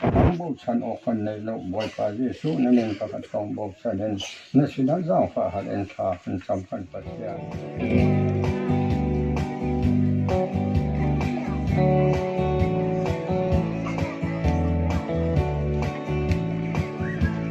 Kan bochan awk kan nei lo. Bawipa Jesuh na min kha kan tong bochan in na sinah zaangfah hal in thla kan cam kan Pathian.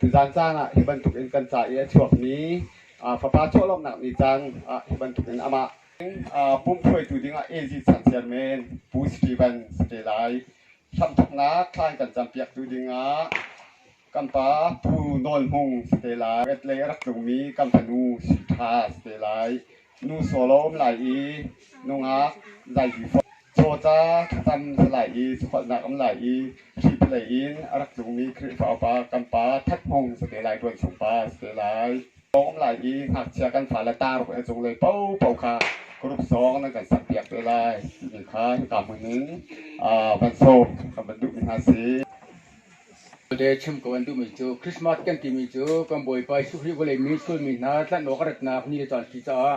Tuzaan caan ah hi bantukin kan ca i a chuakmi fapa chuahlawmnak ni caan ah hi bantukin amah pum hruaitu dingah AZ Changsiar men Pu Steven si te lai. Hramthoknak thlaan kan campiaktu dingah kan pa Pu Nawl Hmung si te lai. Red lei a rak tlungmi kan fanu si ṭha si te lai. Nu solo um lai i nungak zaipi fawh, cawca thlacam salai i sakholhnak um lai i hripilei in a rak tlungmi Khrihfa upa kan pa That Hmung sa te lai, Tuan Sung pa sa te lai. Um lai i ngakchia kan fale taruk a cunglei popo kha group song nan kan sakpiak te lai timi kha hika hmun in van sawm kan van duhmi hna si. Le chim ko an duhmi cu Christmas kan timi cu kan Bawipa Jesuh Khrih vawlei misualmi hna tlanh awk a ratnak ni le caan a si caah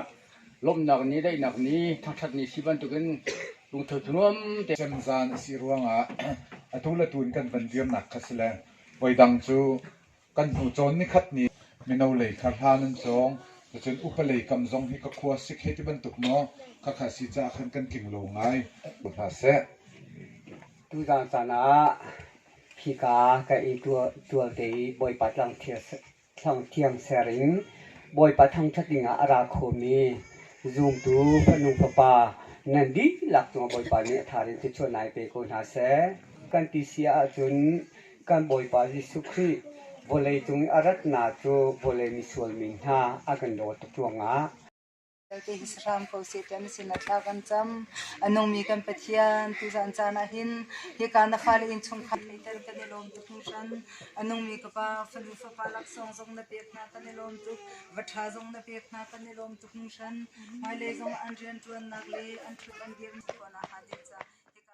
lawmhnak ni, daihnak ni, thangṭhat ni si bantukin lungtho thunuam te Kan zan a si ruangah atu le tu in kan van dirnak kha si le voidang cu kan hnu cawn nikhat ni mino lei kha hla nan cawng cun upalei kam zong hi ka khua sik hei ti bantuk maw khakha si caah khan kan tling lo ngai ko hna seh. Tuzaan caan ah hika ka i ṭual te i Bawipa thlangthiang ser in Bawipa thangṭhat dingah a ra khomi zumtu fanu fapa nan dihlak cungah Bawipa nih a thar in thluachuah nai pe ko hna seh kan ti si ahcun kan Bawipa Jesuh Khrih vawlei cung i a ratnak cu vawlei misual mi hna a kan dawt tuk ruangah vialte hi hram ko seh ti an sinah thla kan cam. A nungmi kan Pathian, tuzan caan ah hin hika na fale innchungkhar lei tal kan i lawm tuk hmuhran. A nungmi ka pa, fanu fapa laksawng zong na pek hna kan i lawm tuk. Va ṭha zong na pek hna kan i lawm tuk hmuhran. Hmailei zong an rianṭuannak le an ṭhut an dirmi khawhnak hnga ding ca hika